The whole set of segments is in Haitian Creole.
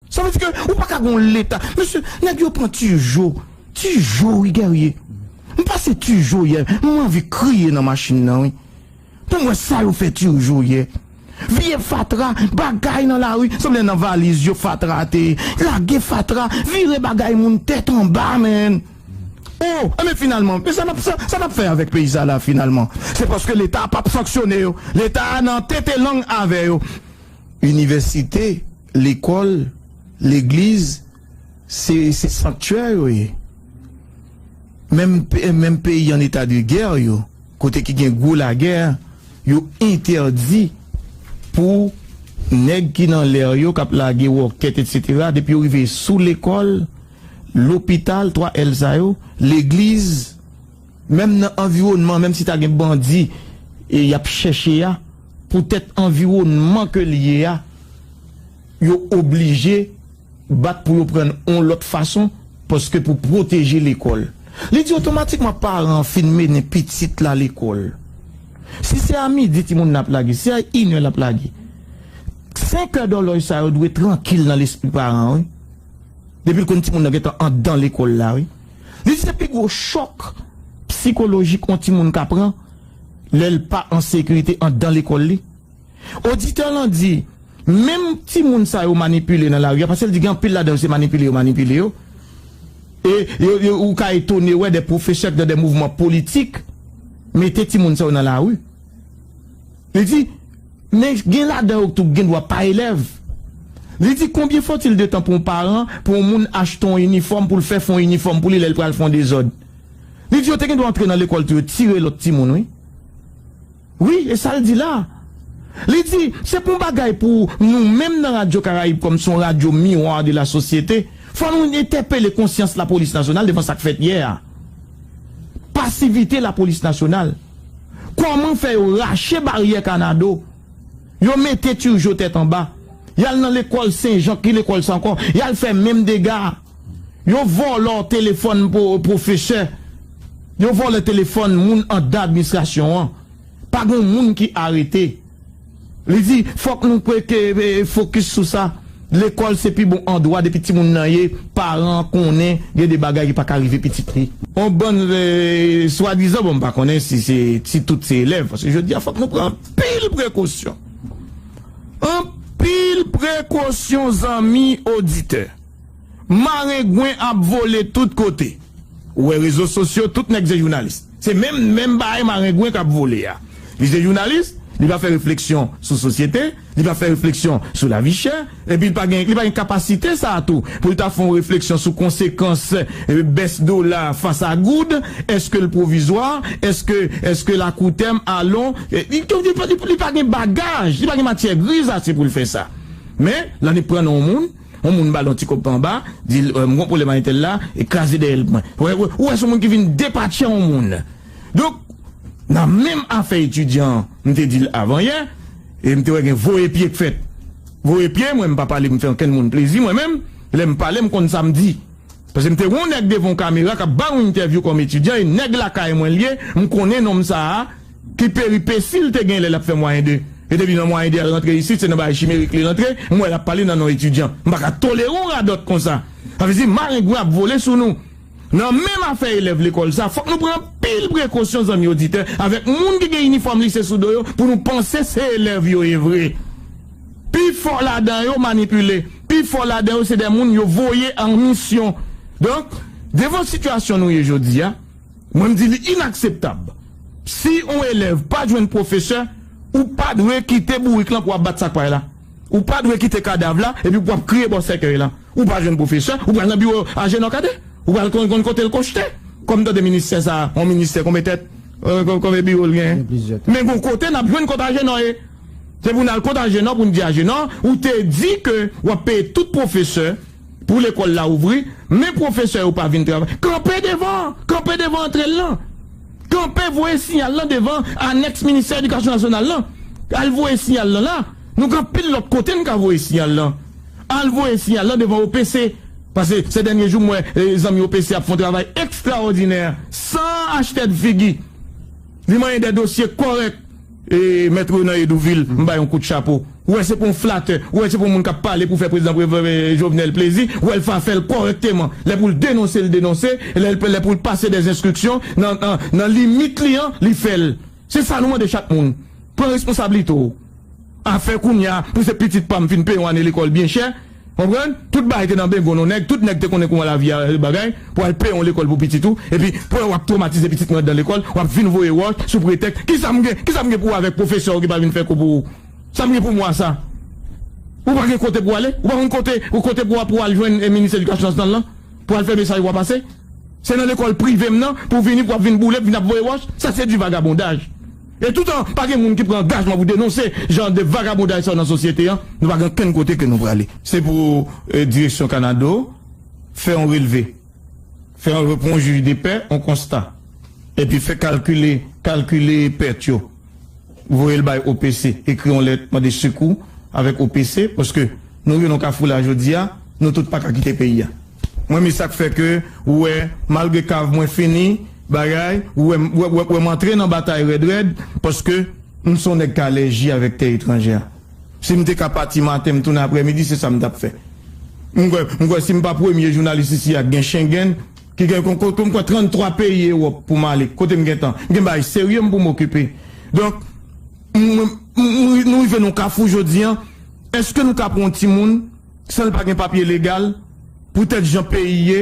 Sa vle di ke ou paka gen yon leta. Mesye, nèg yo pran Turgeau. Turgeau wi Guerrier. M pase Turgeau yè, m anvi kriye nan machin nan wi. Pou m wè sa yo fè Turgeau yè. Vye fatra, bagay nan lari, sanble nan valiz yo fatra a te ye. Lage fatra, vire bagay moun tèt anba man. Oh, enben finalman, men sa n ap fè, sa n ap fè avèk peyi sa la finalman? Se paske leta a p ap sanksyone yo. Leta a nan tete lang avè yo. Inivèsite. lekòl, legliz se se sanktyè yo ye. Menm menm peyi an eta de gè yo kote ki gen gwo lagè yo entèdi pou nèg ki nan lè yo kap lage wòkèt etsetera depi yo rive sou lekòl, lopital 3 èl sa yo, legliz menm nan anviwònman menm si ta gen bandi e yap chèche a. Poutèt anviwònman ke l ye a, yo oblije bat pou yo pran yon lòt fason paske pou pwoteje lekòl. Li di otomatikman paran an fin mennen pitit la lekòl. Si se a midi timoun nan ap lage, se a inè l ap lage. Senkè dòlòj sa yo dwe trankil nan lespri paran an wi. Depi l konn timoun nan gentan andan lekòl la wi. Li di se pi gwo chòk psikolojik yon timoun ka pran. lè l pa an sekirite anndan lekòl li? Oditè lan di, Menm timoun sa yo manipile nan lari a, pase l di gen anpil ladan yo se manipile yo manipile yo. E yo yo ou ka etone wè dè pwofesè k nan dè mouvman politik mete timoun sa yo nan lari. Li di, Men gen ladan yo k tou k gen dwa pa elèv. Li di, Konbyen fòtil de tan pou yon paran, pou yon moun achte yon inifòm pou l fè fon inifòm pou li lè l pral fè yon dezòd? Li di yo te gen dwa antre nan lekòl tou yo tire lòt timoun wi. Wi e sa l di la. Li di se pou yon bagay pou nou menm nan Radyo Karayib kòm se yon radyo miroir de la société fò nou entèpele konsyans lapolis nasyonal devan sa k fèt yè a. Pasivite lapolis nasyonal. Kòman fè yo rache baryè kanado, yo mete Turgeau tèt anba, y al nan lekòl Senjan ki lekòl sa ankò, y al fè menm dega a. Yo vòlò telefòn pwofesè, yo vòlè telefòn moun andan administrasyon an, pa gon moun ki arete. Li di, fòk nou prete fokis sou sa, lekòl se pi bon andwa depi timoun nan ye paran an konnen gen de bagay ki pa ka rive pitit li. On bann swadizan, bon m pa konnen si se si tout se elèv, paske jodi a fòk nou pran anpil prekosyon, anpil prekosyon zanmi oditè. Marengwen ap vole tout kote. Ou wè rezo sosyo tout nèg se jounalis. Se menm menm bagay marengwen kap vole a. Li se jounalis, li pa fè refleksyon sou sosyete, li pa fè refleksyon sou lavi chè, epi li pa gen li pa gen kapasite sa a tou pou li ta fon refleksyon sou konsekans bès dola fas a goud, eske l pwovizwa, eske eske l akoutèm, alon li pa gen bagaj, li pa gen matyè griz ase pou l fè sa. Men, la ni pran nan yon moun. yon moun ba l yon ti kòb pa anba, di l m gon pwoblèm a entèl la, e kraze dèyè l pou mwen. Ou wè, ou wè s on moun ki vin depatcha yon moun. Donk, nan menm afè etidyan an, m te di l avan yè, e m te wè gen voye pye k fèt. Voye pye, mwen m pa pale pou m fè ankenn moun plezi mwen menm, lè m pale m konn sa m di. Pase m te wè yon nèg devan yon kamera k ap ba yon entèvyou kòm etidyan, e nèg lakay mwen l ye, m konnen nonm sa a, Ki peripesi l te gen lè l ap fè mwayen 2? Yo te di nan mwayen 2 al rantre isit se nan bagay chimerik li rantre, m wè l ap pale nan non etidyan. M pa ka tolere yon radòt konsa. Sa vle di marengwen ap vole sou nou. Nan menm afè elèv lekòl sa, fòk nou pran anpil prekosyon zanmi oditè, avèk moun ki gen inifòm lise sou do yo pou nou panse se elèv yo ye vre. Pi fò ladan yo manipile. Pi fò ladan yo se de moun yo voye an misyon. Donk, devan sitiyasyon nou ye jodi a, Mwen m di li inakseptab. Si on elèv pa jwenn pwofesè, ou pa dwe kite bourik lan pou ap bat sak pay la. Ou pa dwe kite kadav la epi pou ap kriye bò sèkèy lan. Ou pa jwenn pwofesè, ou pral nan biwo Ajenò Kadè? Ou pral konn kote l konchte? Kòm m tande ministè sa a, on ministè konbe tèt? Konbe biwo l gen? Men gon kote n ap jwenn kot Ajenò ye. Se pou n al kot Ajenò pou n di Ajenò, ou te di ke w ap peye tout pwofesè. Pou lekòl la ouvri, men pwofesè yo pa vin travay. Kanpe devan! Kanpe devan antre l lan! Kanpe voye siyal lan devan anèks ministè edikasyon nasyonal lan! Al voye siyal lan la! Nou gen anpil lòt kote n ka voye siyal lan. Al voye siyal lan devan OPC. Pase se dènye jou m wè zanmi OPC ap fè yon travay ekstraòdinè san achtèdfigi. Li manyen dè dosye kòrèk. E mèt Renan Edouvil, m bay yon kout chapo. Ou wè se pou yon flatè, ou wè se pou yon moun k ap pale pou fè prezidan Jovenel plezi, ou wè l fa fè l kòrèkteman. Lè pou l denonse l denonse, lè pou l pase dè enstriksyon nan limit li an, li fè l. Se sa nou mande chak moun. Pran responsablite w. Afè kounya pou se pitit pa m fin peye yon ane lekòl byen chè. Konprann? Tout bagay te nan bengon non nèg, tout nèg te konnen kouman lavi a ye bagay, pou al peye yon lekòl pou pitit ou, epi pou lè wap twomatize pitit mwen andan lekòl, wap vin voye wòch sou pretèks, kisa m gen, kisa m gen pou wè avèk pwofesè w ki pa vin fè kou pou ou? Sa m gen pou m wè a sa? Ou pa gen kote pou ale? Ou pa konn kote, kote pou wap pou al jwenn minis edikasyon nasyonal lan, pou al fè mesaj wap pase? Se nan lekòl prive m nan pou w vini pou wap vin boule, pou w vin ap voye wòch? Sa se du vagabondage. E toutan pa gen moun ki pran angajman pou denonse jan de vagabondaj sa yo nan sosyete an, nou pa gen okenn kote ke nou prale. Se pou direksyon Kanado fè yon relve, fè yon reponjij de pè, yon konsta, epi fè kalkile, kalkile pèt yo, voye l bay OPC, ekri yon lèt mande sekou avèk OPC, paske nou rive nan yon kafou la jodi a, nou tout pa ka kite peyi a. Mwen me sak fè ke ou wè malgre kav mwen fini bagay ou wè ou wè m antre nan batay rèd rèd paske m son nèg k alèji avèk tè etranjè a si m te ka pati maten m tounen aprè midi se sa m tap fè m kwè m kwè si m pa premye jounalis isi a k gen Schengen ki gen m kwè 33 peyi Ewòp pou m ale kote m gentan gen bagay serye m pou m okipe donk m m nou rive nan yon kafou jodi an èske nou ka pran yon timoun. San l pa gen papye legal, poutèt jan peyi ye,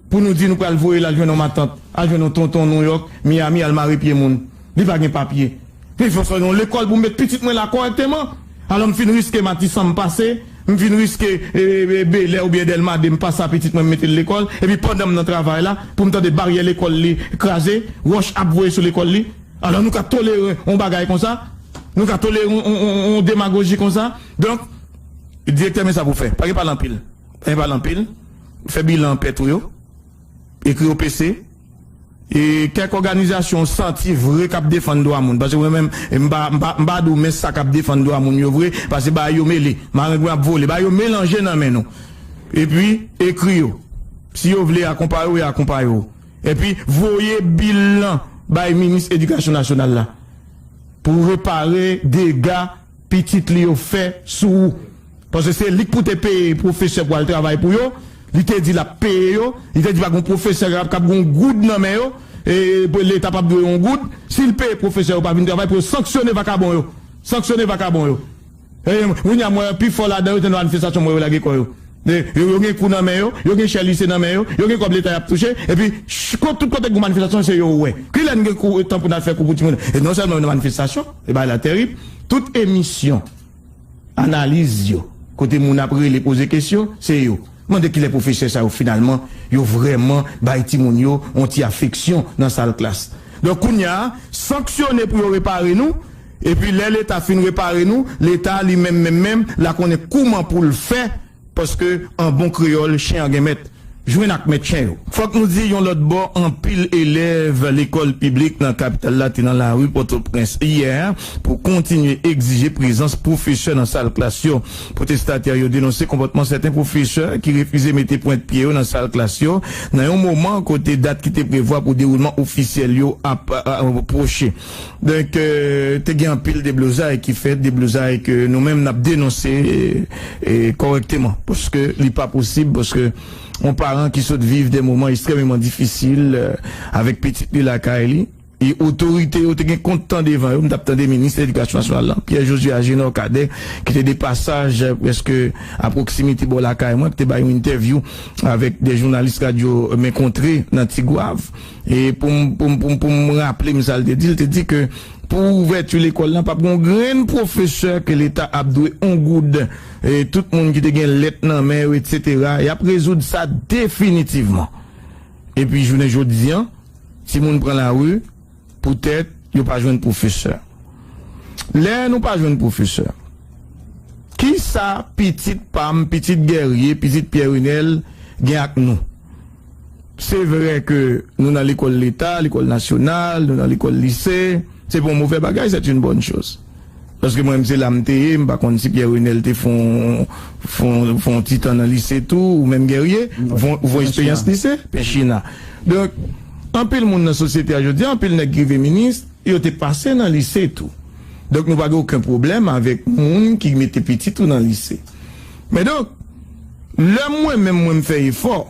pou nou di nou pral voye l al jwenn yon matant, al jwenn yon tonton Nouyòk, Miyami, al mare pye moun. Li pa gen papye. Men fò sa yon lekòl pou m met pitit mwen la kòrèkteman. Alò m fin riske Matisan m pase, m fin riske Belè oubyen Dèlma 2 m pase a pitit mwen m mete l lekòl, epi pandan m nan travay la, pou m tande baryè lekòl li kraze, wòch ap voye sou lekòl li. Alò nou ka tolere yon bagay konsa? Nou ka tolere yon demagoji konsa? Donk. Direktè men sa pou w fè. Pa gen pale anpil. Pa gen pale anpil. Fè bilan pèt ou yo. Ekri OPC. E kèk òganizasyon w santi vre k ap defann dwa moun. Pase mwen menm, m pa m pa di w men sa k ap defann dwa moun yo vre. Pase bagay yo mele. Marengwen ap vole. Bagay yo melanje nan men nou. Epi, ekri yo. Si yo vle akonpaye w, yo akonpaye w. Epi, voye bilan bay minis edikasyon nasyonal la. Pou repare dega. pitit li yo fè sou ou paske se lik pou te peye pwofesè pou al travay pou yo li te di lap peye yo li te di pa gon pwofesè kap kab gon goud nan men yo e leta pap dwe yon goud sil peye pwofesè yo pa vin travay pou yo sanksyone vakabon yo sanksyone vakabon yo e kounya m wè pifò ladan yo se nan manifestasyon m wè yo lage kò yo. Yo yo gen kou nan men yo, yo gen chè lise nan men yo, yo gen kòb leta y ap touche, epi ch tout kote k gon manifestasyon se yo ou wè. Ki lè n gen kou tan pou n al fè kou pou timoun? E non sèlman yo nan manifestasyon, e bagay la terib. Tout emisyon, analiz yo, kote moun ap rele poze kesyon, se yo. Mande ki lè pwofesè sa yo finalman yo vrèman bay timoun yo yon ti afeksyon nan sal klas. Donk kounye a, sanksyone pou yo repare nou, Epi lè leta fin repare nou, leta a li menm menm menm la konnen kouman pou l fè paske an bon kreyòl chen an gen mèt, jwenn ak mèt chen yo. Fòk nou di yon lòt bò anpil elèv lekòl piblik nan kapital la te nan lari Pòtoprens yè pou kontinye egzije prezans pwofesè nan sal klas yo. Pwotestatè yo denonse konpòtman sèten pwofesè ki refize mete pwent pye yo nan sal klas yo nan yon moman kote dat ki te prevwa pou dewoulman ofisyèl yo ap pwoche. Donk te gen anpil deblozay ki fèt, deblozay ke nou menm n ap denonse kòrèkteman. Paske li pa posib, paske yon paran ki sot viv de moman estrèmeman difisil avèk pitit li lakay li, e otorite yo te gen kont tan devan yo. M t ap tande minis ledikasyon nasyonal lan, Pierre Josué Agénor Cadet, ki te de pasaj prèske a pwoksimite bò lakay mwen, ki te bay yon entèvyou avèk de jounalis radyo men kontre nan Tigwav. E pou m pou m pou m pou m raple m sa l te di, l te di ke pou ouvèti lekòl lan pap gen yon grenn pwofesè ke leta ap dwe yon goud e tout moun ki te gen lèt nan men yo etsetera y ap rezoud sa definitivman. Epi jounen jodi an timoun pran lari poutèt yo pa jwenn pwofesè. Lè nou pa jwenn pwofesè kisa pitit pa m, pitit Guerrier, pitit Pierre Renel gen ak nou? Se vre ke nou nan lekòl leta, lekòl nasyonal, nou nan lekòl lise, se pa yon movè bagay, c'est une bonne chose. Paske mwen menm se la m te ye, m pa konn si Pierre Renel te fon yon ti tan nan lise tou, ou menm Guerrier, ou fon eksperyans lise? Penchina. Donk, anpil moun nan sosyete a jodi a, anpil nèg ki rive minis, yo te pase nan lise tou. Donk nou pa gen oken pwoblèm avèk moun ki mete pitit ou nan lise. Men donk. Lè mwen menm mwen m fè efò,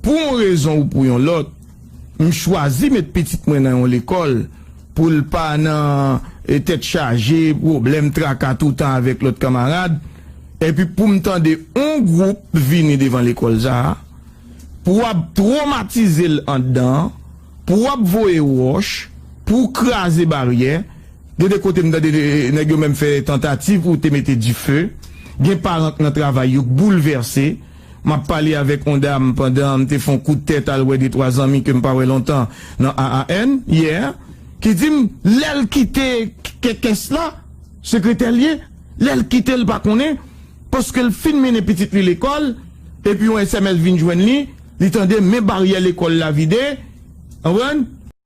pou yon rezon ou pou yon lòt, m chwazi met pitit mwen nan yon lekòl pou l pa nan tèt chaje, pwoblèm, traka toutan avèk lòt kanmarad, epi pou m tande yon gwoup vini devan lekòl sa a, pou ap twomatize l anndan, pou ap voye wòch, pou kraze baryè. Gen de kote m tande nèg yo menm fè tantativ pou te mete dife. Gen paran k nan travay yo k boulvèse. M ap pale avèk on dam pandan m te fè on kout tèt al wè de twa zanmi ke m pa wè lontan nan AAN yè, ki di m lè l kite kès la, sekretè l ye, lè l kite l pa konnen paske l fin mennen pitit li lekòl epi on sms vin jwenn li, li tande men baryè lekòl la vide, anprann?